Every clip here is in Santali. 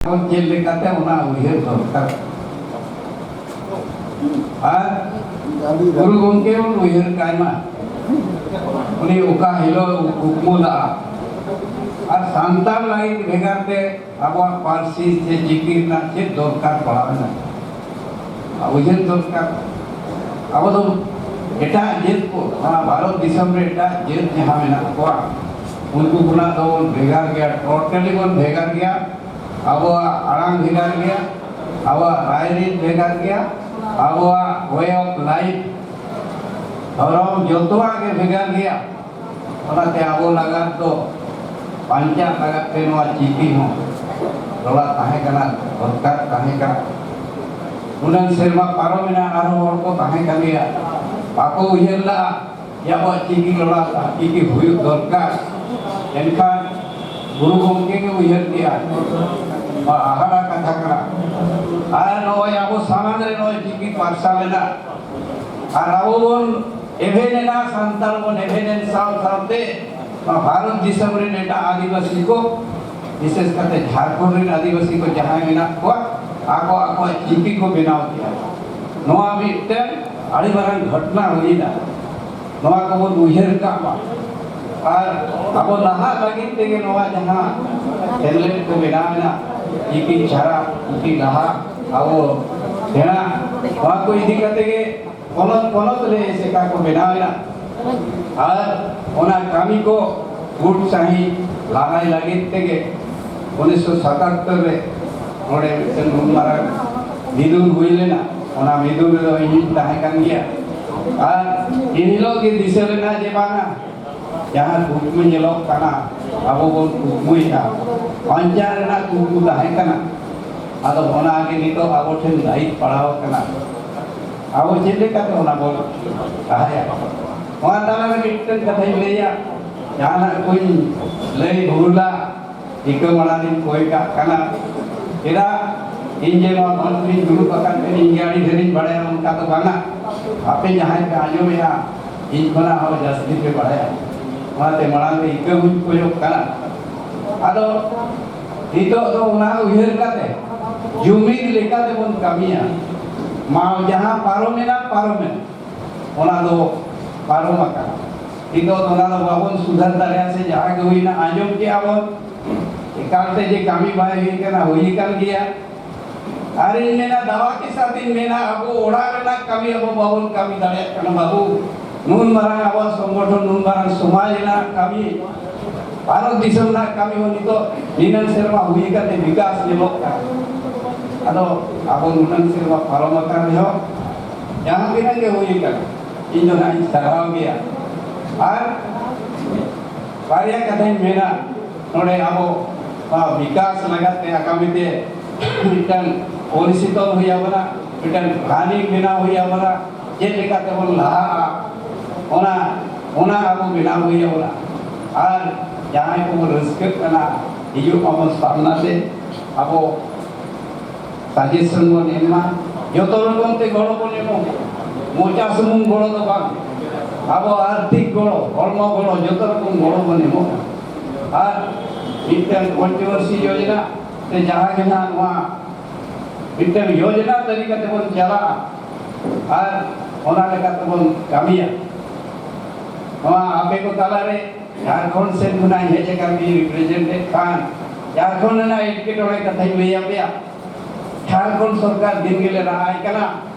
ᱪᱮᱫ ᱞᱮᱠᱟᱛᱮ ᱚᱱᱟ ᱩᱭᱦᱟᱹᱨ ᱫᱚᱨᱠᱟᱨ ᱟᱨ ᱜᱩᱨᱩ ᱜᱚᱢᱠᱮ ᱵᱚᱱ ᱩᱭᱦᱟᱹᱨ ᱠᱟᱭ ᱢᱟ ᱩᱱᱤ ᱚᱠᱟ ᱦᱤᱞᱳᱜ ᱠᱩᱠᱢᱩ ᱞᱟᱜᱼᱟ ᱟᱨ ᱥᱟᱱᱛᱟᱲ ᱞᱟᱹᱜᱤᱫ ᱵᱷᱮᱜᱟᱨ ᱛᱮ ᱟᱵᱚᱣᱟᱜ ᱯᱟᱹᱨᱥᱤ ᱥᱮ ᱪᱤᱠᱤ ᱨᱮᱱᱟᱜ ᱪᱮᱫ ᱫᱚᱨᱠᱟᱨ ᱯᱟᱲᱟᱣᱮᱱᱟ ᱩᱭᱦᱟᱹᱨ ᱫᱚᱨᱠᱟᱨ ᱟᱵᱚ ᱫᱚ ᱮᱴᱟᱜ ᱡᱟᱹᱛ ᱠᱚ ᱚᱱᱟ ᱵᱷᱟᱨᱚᱛ ᱫᱤᱥᱚᱢ ᱨᱮ ᱮᱴᱟᱜ ᱡᱟᱹᱛ ᱡᱟᱦᱟᱸ ᱢᱮᱱᱟᱜ ᱠᱚᱣᱟ ᱩᱱᱠᱩ ᱠᱷᱚᱱᱟᱜ ᱫᱚ ᱵᱚᱱ ᱵᱷᱮᱜᱟᱨ ᱜᱮᱭᱟ ᱴᱳᱴᱟᱞᱤ ᱵᱚᱱ ᱵᱷᱮᱜᱟᱨ ᱜᱮᱭᱟ ᱟᱵᱚᱣᱟᱜ ᱟᱲᱟᱝ ᱵᱷᱮᱜᱟᱨ ᱜᱮᱭᱟ ᱟᱵᱚᱣᱟᱜ ᱨᱟᱭᱨᱤᱛ ᱵᱷᱮᱜᱟᱨ ᱜᱮᱭᱟ ᱟᱵᱚᱣᱟᱜ ᱳᱭᱮ ᱚᱯᱷ ᱞᱟᱭᱤᱯᱷ ᱫᱷᱚᱨᱚᱢ ᱡᱚᱛᱚᱣᱟᱜ ᱜᱮ ᱵᱷᱮᱜᱟᱨ ᱜᱮᱭᱟ ᱚᱱᱟᱛᱮ ᱟᱵᱚ ᱞᱟᱜᱟᱫ ᱫᱚ ᱵᱟᱧᱪᱟᱜ ᱞᱟᱜᱟᱫ ᱛᱮ ᱱᱚᱣᱟ ᱪᱤᱠᱤ ᱦᱚᱸ ᱨᱚᱲᱟᱜ ᱛᱟᱦᱮᱸ ᱠᱟᱱᱟ ᱫᱚᱨᱠᱟᱨ ᱛᱟᱦᱮᱸ ᱠᱟᱱᱟ ᱩᱱᱟᱹᱝ ᱥᱮᱨᱢᱟ ᱯᱟᱨᱚᱢ ᱮᱱᱟ ᱟᱨᱦᱚᱸ ᱦᱚᱲ ᱠᱚ ᱛᱟᱦᱮᱸ ᱠᱟᱱ ᱜᱮᱭᱟ ᱵᱟᱠᱚ ᱩᱭᱦᱟᱹᱨ ᱞᱟᱜᱼᱟ ᱡᱮ ᱟᱵᱚᱣᱟᱜ ᱪᱤᱠᱤ ᱨᱚᱲᱟᱜ ᱪᱤᱠᱤ ᱦᱩᱭᱩᱜ ᱫᱚᱨᱠᱟᱨ ᱮᱱᱠᱷᱟᱱ ᱜᱩᱨᱩ ᱜᱚᱢᱠᱮ ᱜᱮ ᱩᱭᱦᱟᱹᱨ ᱠᱮᱜᱼᱟ ᱱᱚᱣᱟ ᱦᱟᱦᱟᱲᱟ ᱠᱟᱛᱷᱟ ᱠᱟᱱᱟ ᱟᱨ ᱱᱚᱜᱼᱚᱭ ᱟᱵᱚ ᱥᱟᱢᱟᱝ ᱨᱮ ᱱᱚᱜᱼᱚᱭ ᱪᱤᱠᱤ ᱯᱟᱨᱥᱟᱞ ᱮᱱᱟ ᱟᱨ ᱟᱵᱚ ᱵᱚᱱ ᱮᱵᱷᱮᱱ ᱮᱱᱟ ᱥᱟᱱᱛᱟᱲ ᱵᱚᱱ ᱮᱵᱷᱮᱱ ᱮᱱ ᱥᱟᱶ ᱥᱟᱶᱛᱮ ᱵᱷᱟᱨᱚᱛ ᱫᱤᱥᱚᱢ ᱨᱮᱱ ᱮᱴᱟᱜ ᱟᱹᱫᱤᱵᱟᱹᱥᱤ ᱠᱚ ᱵᱤᱥᱮᱥ ᱠᱟᱛᱮ ᱡᱷᱟᱲᱠᱷᱚᱸᱰ ᱨᱮᱱ ᱟᱹᱫᱤᱵᱟᱹᱥᱤ ᱠᱚ ᱡᱟᱦᱟᱸᱭ ᱢᱮᱱᱟᱜ ᱠᱚᱣᱟ ᱟᱠᱚ ᱟᱠᱚᱣᱟᱜ ᱪᱤᱠᱤ ᱠᱚ ᱵᱮᱱᱟᱣ ᱠᱮᱫᱟ ᱱᱚᱣᱟ ᱢᱤᱫᱴᱮᱱ ᱟᱹᱰᱤ ᱢᱟᱨᱟᱝ ᱜᱷᱚᱴᱱᱟ ᱦᱩᱭᱱᱟ ᱱᱚᱣᱟ ᱠᱚᱵᱚᱱ ᱩᱭᱦᱟᱹᱨ ᱠᱟᱜ ᱢᱟ ᱟᱨ ᱟᱵᱚ ᱱᱟᱦᱟᱜ ᱞᱟᱹᱜᱤᱫ ᱛᱮᱜᱮ ᱱᱚᱣᱟ ᱡᱟᱦᱟᱸ ᱥᱮᱢᱞᱮᱫ ᱠᱚ ᱵᱮᱱᱟᱣ ᱮᱱᱟ ᱪᱤᱠᱤ ᱪᱷᱟᱲᱟ ᱪᱤᱠᱤ ᱞᱟᱦᱟ ᱟᱵᱚ ᱥᱮᱬᱟ ᱱᱚᱣᱟ ᱠᱚ ᱤᱫᱤ ᱠᱟᱛᱮ ᱜᱮ ᱯᱚᱱᱚᱛ ᱯᱚᱱᱚᱛ ᱨᱮ ᱮᱥᱮᱠᱟ ᱠᱚ ᱵᱮᱱᱟᱣᱮᱱᱟ ᱟᱨ ᱚᱱᱟ ᱠᱟᱹᱢᱤ ᱠᱚ ᱜᱩᱴ ᱥᱟᱺᱦᱤᱡ ᱞᱟᱦᱟᱭ ᱞᱟᱹᱜᱤᱫ ᱛᱮᱜᱮ ᱩᱱᱤᱥᱥᱚ ᱥᱟᱛᱟᱛᱛᱚᱨ ᱨᱮ ᱱᱚᱰᱮ ᱢᱤᱫᱴᱮᱱ ᱱᱩᱱ ᱢᱟᱨᱟᱝ ᱢᱤᱫᱩᱱ ᱦᱩᱭ ᱞᱮᱱᱟ ᱚᱱᱟ ᱢᱤᱫᱩᱱ ᱨᱮᱫᱚ ᱤᱧᱤᱧ ᱛᱟᱦᱮᱸ ᱠᱟᱱ ᱜᱮᱭᱟ ᱟᱨ ᱤᱱ ᱦᱤᱞᱳᱜ ᱜᱮ ᱫᱤᱥᱟᱹ ᱞᱮᱱᱟ ᱡᱮ ᱵᱟᱝᱟ ᱡᱟᱦᱟᱸ ᱠᱩᱠᱢᱩ ᱧᱮᱞᱚᱜ ᱠᱟᱱᱟ ᱟᱵᱚ ᱵᱚᱱ ᱠᱩᱠᱢᱩᱭᱮᱫᱟ ᱵᱟᱧᱪᱟᱣ ᱨᱮᱱᱟᱜ ᱠᱩᱠᱢᱩ ᱛᱟᱦᱮᱸ ᱠᱟᱱᱟ ᱟᱫᱚ ᱚᱱᱟᱜᱮ ᱱᱤᱛᱚᱜ ᱟᱵᱚ ᱴᱷᱮᱱ ᱫᱟᱭᱤᱛ ᱯᱟᱲᱟᱣ ᱠᱟᱱᱟ ᱟᱵᱚ ᱪᱮᱫ ᱞᱮᱠᱟᱛᱮ ᱚᱱᱟ ᱵᱚᱱ ᱞᱟᱦᱟᱭᱟ ᱚᱱᱟ ᱛᱟᱞᱟᱨᱮ ᱢᱤᱫᱴᱮᱱ ᱠᱟᱛᱷᱟᱧ ᱞᱟᱹᱭᱟ ᱡᱟᱦᱟᱱᱟᱜ ᱠᱚᱧ ᱞᱟᱹᱭ ᱵᱷᱩᱞᱟ ᱴᱷᱤᱠᱟᱹ ᱢᱟᱲᱟᱝ ᱨᱤᱧ ᱠᱚᱭ ᱠᱟᱜ ᱠᱟᱱᱟ ᱪᱮᱫᱟᱜ ᱤᱧ ᱡᱮ ᱱᱚᱣᱟ ᱢᱚᱧᱪ ᱨᱤᱧ ᱫᱩᱲᱩᱵ ᱟᱠᱟᱱ ᱛᱮ ᱤᱧ ᱜᱮ ᱟᱹᱰᱤ ᱰᱷᱮᱨᱤᱧ ᱵᱟᱲᱟᱭᱟ ᱚᱱᱠᱟ ᱫᱚ ᱵᱟᱝᱟ ᱟᱯᱮ ᱡᱟᱦᱟᱸᱭ ᱯᱮ ᱟᱸᱡᱚᱢᱮᱜᱼᱟ ᱤᱧ ᱠᱷᱚᱱᱟᱜ ᱦᱚᱸ ᱡᱟᱹᱥᱛᱤ ᱯᱮ ᱵᱟᱲᱟᱭᱟ ᱚᱱᱟᱛᱮ ᱢᱟᱲᱟᱝ ᱨᱮ ᱤᱠᱟᱹ ᱦᱚᱧ ᱠᱚᱭᱚᱜ ᱠᱟᱱᱟ ᱟᱫᱚ ᱱᱤᱛᱚᱜ ᱫᱚ ᱚᱱᱟ ᱩᱭᱦᱟᱹᱨ ᱠᱟᱛᱮ ᱡᱩᱢᱤᱫ ᱞᱮᱠᱟ ᱛᱮᱵᱚᱱ ᱠᱟᱹᱢᱤᱭᱟ ᱢᱟ ᱡᱟᱦᱟᱸ ᱯᱟᱨᱚᱢ ᱮᱱᱟ ᱯᱟᱨᱚᱢ ᱮᱱᱟ ᱚᱱᱟ ᱫᱚ ᱯᱟᱨᱚᱢ ᱟᱠᱟᱱᱟ ᱱᱤᱛᱚᱜ ᱫᱚ ᱚᱱᱟ ᱫᱚ ᱵᱟᱵᱚᱱ ᱥᱩᱫᱷᱟᱹᱨ ᱫᱟᱲᱮᱭᱟᱜᱼᱟ ᱥᱮ ᱡᱟᱦᱟᱸ ᱜᱮ ᱦᱩᱭᱱᱟ ᱟᱸᱡᱚᱢ ᱠᱮᱜᱼᱟ ᱵᱚᱱ ᱮᱠᱟᱞ ᱛᱮ ᱡᱮ ᱠᱟᱹᱢᱤ ᱵᱟᱭ ᱦᱩᱭ ᱠᱟᱱᱟ ᱦᱩᱭ ᱟᱠᱟᱱ ᱜᱮᱭᱟ ᱟᱨᱤᱧ ᱢᱮᱱᱟ ᱫᱟᱣᱟ ᱠᱮ ᱥᱟᱛ ᱤᱧ ᱢᱮᱱᱟ ᱟᱵᱚ ᱚᱲᱟᱜ ᱨᱮᱱᱟᱜ ᱠᱟᱹᱢᱤ ᱟᱵᱚ ᱵᱟᱵᱚᱱ ᱠᱟᱹᱢᱤ ᱫᱟᱲᱮᱭᱟᱜ ᱠᱟᱱᱟ ᱵᱟᱵᱩ ᱱᱩᱱ ᱢᱟᱨᱟᱝ ᱟᱵᱚ ᱥᱚᱝᱜᱚᱴᱷᱚᱱ ᱱᱩᱱ ᱢᱟᱨᱟᱝ ᱥᱚᱢᱟᱡᱽ ᱨᱮᱱᱟᱜ ᱠᱟᱹᱢᱤ ᱵᱷᱟᱨᱚᱛ ᱫᱤᱥᱚᱢ ᱨᱮᱱᱟᱜ ᱠᱟᱹᱢᱤ ᱦᱚᱸ ᱱᱤᱛᱚᱜ ᱱᱤᱱᱟᱹᱝ ᱥᱮᱨᱢᱟ ᱦᱩᱭ ᱠᱟᱛᱮ ᱵᱤᱠᱟᱥ ᱧᱮᱞᱚᱜ ᱠᱟᱱᱟ ᱟᱫᱚ ᱟᱵᱚ ᱱᱩᱱᱟᱹᱝ ᱥᱮᱨᱢᱟ ᱯᱟᱨᱚᱢ ᱟᱠᱟᱱ ᱨᱮᱦᱚᱸ ᱡᱟᱦᱟᱸ ᱛᱤᱱᱟᱹᱜ ᱜᱮ ᱦᱩᱭ ᱠᱟᱱᱟ ᱤᱧ ᱫᱚ ᱱᱟᱦᱟᱜ ᱤᱧ ᱥᱟᱨᱦᱟᱣ ᱜᱮᱭᱟ ᱟᱨ ᱵᱟᱨᱭᱟ ᱠᱟᱛᱷᱟᱧ ᱢᱮᱱᱟ ᱱᱚᱰᱮ ᱟᱵᱚ ᱵᱤᱠᱟᱥ ᱞᱟᱜᱟᱛ ᱛᱮ ᱟᱜᱟᱢᱤ ᱛᱮ ᱢᱤᱫᱴᱟᱝ ᱯᱚᱞᱤᱥᱤ ᱛᱚᱞ ᱦᱩᱭ ᱟᱵᱚᱱᱟ ᱢᱤᱫᱴᱟᱝ ᱯᱞᱟᱱᱤᱝ ᱵᱮᱱᱟᱣ ᱦᱩᱭ ᱟᱵᱚᱱᱟ ᱪᱮᱫ ᱞᱮᱠᱟ ᱛᱮᱵᱚᱱ ᱞᱟᱦᱟᱜᱼᱟ ᱚᱱᱟ ᱚᱱᱟ ᱟᱵᱚ ᱵᱮᱱᱟᱣ ᱦᱩᱭ ᱟᱵᱚᱱᱟ ᱟᱨ ᱡᱟᱦᱟᱸᱭ ᱠᱚᱵᱚᱱ ᱨᱟᱹᱥᱠᱟᱹᱜ ᱠᱟᱱᱟ ᱦᱤᱡᱩᱜ ᱟᱵᱚᱱ ᱥᱟᱢᱱᱟ ᱛᱮ ᱟᱵᱚ ᱥᱟᱡᱮᱥᱚᱱ ᱵᱚᱱ ᱮᱢᱟ ᱡᱚᱛᱚ ᱨᱚᱠᱚᱢ ᱛᱮ ᱜᱚᱲᱚ ᱵᱚᱱ ᱮᱢᱚᱜ ᱢᱚᱪᱟ ᱥᱩᱢᱩᱝ ᱜᱚᱲᱚ ᱫᱚ ᱵᱟᱝ ᱟᱵᱚ ᱟᱨᱛᱷᱤᱠ ᱜᱚᱲᱚ ᱦᱚᱲᱢᱚ ᱜᱚᱲᱚ ᱡᱚᱛᱚ ᱨᱚᱠᱚᱢ ᱜᱚᱲᱚ ᱵᱚᱱ ᱮᱢᱚᱜᱼᱟ ᱟᱨ ᱢᱤᱫᱴᱟᱝ ᱠᱚᱱᱴᱨᱳᱵᱷᱟᱨᱥᱤ ᱡᱳᱡᱚᱱᱟ ᱥᱮ ᱡᱟᱦᱟᱸ ᱜᱮ ᱱᱟᱦᱟᱜ ᱱᱚᱣᱟ ᱢᱤᱫᱴᱟᱝ ᱡᱳᱡᱚᱱᱟ ᱛᱟᱹᱞᱤᱠᱟ ᱛᱮᱵᱚᱱ ᱪᱟᱞᱟᱜᱼᱟ ᱟᱨ ᱚᱱᱟ ᱞᱮᱠᱟ ᱛᱮᱵᱚᱱ ᱠᱟᱹᱢᱤᱭᱟ ᱱᱚᱣᱟ ᱟᱯᱮ ᱠᱚ ᱛᱟᱞᱟᱨᱮ ᱡᱷᱟᱲᱠᱷᱚᱸᱰ ᱥᱮᱫ ᱠᱷᱚᱱᱟᱜ ᱦᱮᱡ ᱟᱠᱟᱱ ᱢᱤᱫ ᱨᱤᱯᱨᱮᱡᱮᱱᱴᱮᱰ ᱠᱷᱟᱱ ᱡᱷᱟᱲᱠᱷᱚᱸᱰ ᱨᱮᱱᱟᱜ ᱮᱴᱠᱮᱴᱚᱬᱮ ᱠᱟᱛᱷᱟᱧ ᱞᱟᱹᱭᱟᱯᱮᱭᱟ ᱡᱷᱟᱲᱠᱷᱚᱸᱰ ᱥᱚᱨᱠᱟᱨ ᱫᱤᱱ ᱜᱮᱞᱮ ᱨᱟᱦᱟᱭ ᱠᱟᱱᱟ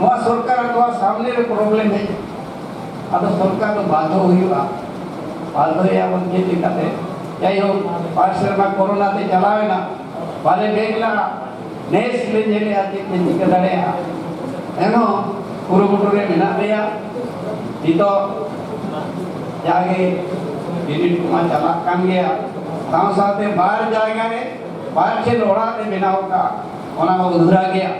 ᱱᱚᱣᱟ ᱥᱚᱨᱠᱟᱨ ᱱᱚᱣᱟ ᱥᱟᱢᱱᱮ ᱨᱮ ᱯᱨᱚᱵᱞᱮᱢ ᱦᱮᱡ ᱟᱫᱚ ᱥᱚᱨᱠᱟᱨ ᱫᱚ ᱵᱟᱫᱷᱚ ᱦᱩᱭᱩᱜᱼᱟ ᱵᱟᱫᱷᱚᱭᱟ ᱵᱚᱱ ᱪᱮᱫ ᱞᱮᱠᱟᱛᱮ ᱡᱟᱭᱦᱳᱠ ᱵᱟᱨ ᱥᱮᱨᱢᱟ ᱠᱚᱨᱳᱱᱟ ᱛᱮ ᱪᱟᱞᱟᱣᱮᱱᱟ ᱵᱟᱞᱮ ᱵᱮᱜᱽ ᱞᱟᱜᱼᱟ ᱱᱮᱥ ᱞᱮ ᱧᱮᱞᱮᱜᱼᱟ ᱪᱮᱫ ᱞᱮ ᱪᱤᱠᱟᱹ ᱫᱟᱲᱮᱭᱟᱜᱼᱟ ᱮᱱᱦᱚᱸ ᱠᱩᱨᱩᱢᱩᱴᱩ ᱨᱮ ᱢᱮᱱᱟᱜ ᱞᱮᱭᱟ ᱱᱤᱛᱚᱜ ᱡᱟᱜᱮ ᱵᱤᱱᱤᱰ ᱠᱚᱢᱟ ᱪᱟᱞᱟᱜ ᱠᱟᱱ ᱜᱮᱭᱟ ᱥᱟᱶ ᱥᱟᱶᱛᱮ ᱵᱟᱨ ᱡᱟᱭᱜᱟ ᱨᱮ ᱵᱟᱨ ᱴᱷᱮᱱ ᱚᱲᱟᱜ ᱞᱮ ᱵᱮᱱᱟᱣ ᱠᱟᱜᱼᱟ ᱚᱱᱟ ᱦᱚᱸ ᱩᱫᱷᱩᱨᱟ ᱜᱮᱭᱟ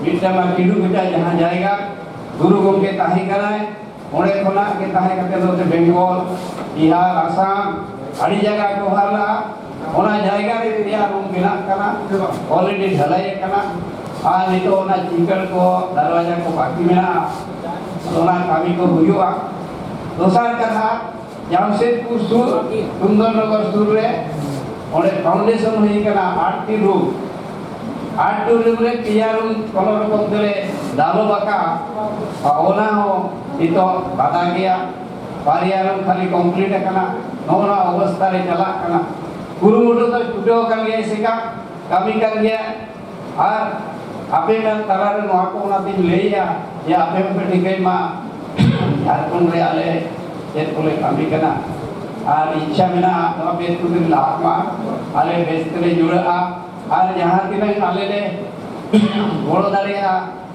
ᱵᱤᱨᱥᱟ ᱢᱟ ᱠᱤᱰᱩ ᱵᱮᱴᱟ ᱡᱟᱦᱟᱸ ᱡᱟᱭᱜᱟ ᱜᱩᱨᱩ ᱜᱚᱢᱠᱮ ᱛᱟᱦᱮᱸ ᱠᱟᱱᱟᱭ ᱚᱸᱰᱮ ᱠᱷᱚᱱᱟᱜ ᱜᱮ ᱛᱟᱦᱮᱸ ᱠᱟᱛᱮ ᱱᱚᱛᱮ ᱵᱮᱝᱜᱚᱞ ᱵᱤᱦᱟᱨ ᱟᱥᱟᱢ ᱟᱹᱰᱤ ᱡᱟᱭᱜᱟ ᱠᱚ ᱦᱟᱨ ᱞᱟᱜᱼᱟ ᱚᱱᱟ ᱡᱟᱭᱜᱟ ᱨᱮ ᱯᱮᱭᱟ ᱨᱩᱢ ᱵᱮᱱᱟᱜ ᱠᱟᱱᱟ ᱚᱞᱨᱮᱰᱤ ᱰᱷᱟᱞᱟᱭ ᱠᱟᱱᱟ ᱟᱨ ᱱᱤᱛᱚᱜ ᱚᱱᱟ ᱪᱤᱠᱟᱹᱲ ᱠᱚ ᱫᱟᱨᱣᱟᱡᱟ ᱠᱚ ᱵᱟᱹᱠᱤ ᱢᱮᱱᱟᱜᱼᱟ ᱚᱱᱟ ᱠᱟᱹᱢᱤ ᱠᱚ ᱦᱩᱭᱩᱜᱼᱟ ᱫᱚᱥᱟᱨ ᱠᱟᱛᱷᱟ ᱡᱟᱢᱥᱮᱫᱽᱯᱩᱨ ᱥᱩᱨ ᱥᱩᱱᱫᱚᱨᱱᱚᱜᱚᱨ ᱥᱩᱨ ᱨᱮ ᱚᱸᱰᱮ ᱯᱷᱟᱣᱩᱱᱰᱮᱥᱚᱱ ᱦᱩᱭ ᱠᱟᱱᱟ ᱟᱴᱴᱤ ᱨᱩᱢ ᱟᱴᱴᱤ ᱨᱩᱢ ᱨᱮ ᱯᱮᱭᱟ ᱨᱩᱢ ᱠᱚᱱᱚ ᱨᱚᱠᱚᱢ ᱛᱮᱞᱮ ᱰᱟᱞᱚᱵ ᱟᱠᱟᱜᱼᱟ ᱟᱨ ᱚᱱᱟ ᱦᱚᱸ ᱱᱤᱛᱚᱜ ᱵᱟᱫᱟ ᱜᱮᱭᱟ ᱵᱟᱨᱭᱟ ᱨᱩᱢ ᱠᱷᱟᱹᱞᱤ ᱠᱚᱢᱯᱞᱤᱴ ᱟᱠᱟᱱᱟ ᱱᱚᱜᱼᱚ ᱱᱚᱣᱟ ᱚᱵᱚᱥᱛᱟ ᱨᱮ ᱪᱟᱞᱟᱜ ᱠᱟᱱᱟ ᱠᱩᱨᱩᱢᱩᱴᱩ ᱫᱚ ᱪᱷᱩᱴᱟᱹᱣ ᱟᱠᱟᱱ ᱜᱮᱭᱟ ᱮᱥᱮᱠᱟ ᱠᱟᱹᱢᱤ ᱠᱟᱱ ᱜᱮᱭᱟ ᱟᱨ ᱟᱯᱮ ᱱᱟᱝ ᱛᱟᱞᱟ ᱨᱮ ᱱᱚᱣᱟ ᱠᱚ ᱚᱱᱟ ᱛᱤᱧ ᱞᱟᱹᱭᱟ ᱡᱮ ᱟᱯᱮ ᱦᱚᱸᱯᱮ ᱴᱷᱤᱠᱟᱹᱭ ᱢᱟ ᱡᱷᱟᱲᱠᱷᱚᱸᱰ ᱨᱮ ᱟᱞᱮ ᱪᱮᱫ ᱠᱚᱞᱮ ᱠᱟᱹᱢᱤ ᱠᱟᱱᱟ ᱟᱨ ᱤᱪᱪᱷᱟ ᱢᱮᱱᱟᱜᱼᱟ ᱱᱚᱣᱟ ᱵᱮᱥ ᱠᱚᱛᱮ ᱞᱟᱦᱟᱜ ᱢᱟ ᱟᱞᱮ ᱵᱮᱥ ᱛᱮᱞᱮ ᱡᱩᱲᱟᱹᱜᱼᱟ ᱟᱨ ᱡᱟᱦᱟᱸ ᱛᱤᱱᱟᱹᱜ ᱟᱞᱮ ᱞᱮ ᱜᱚᱲᱚ ᱫᱟᱲᱮᱭᱟᱜᱼᱟ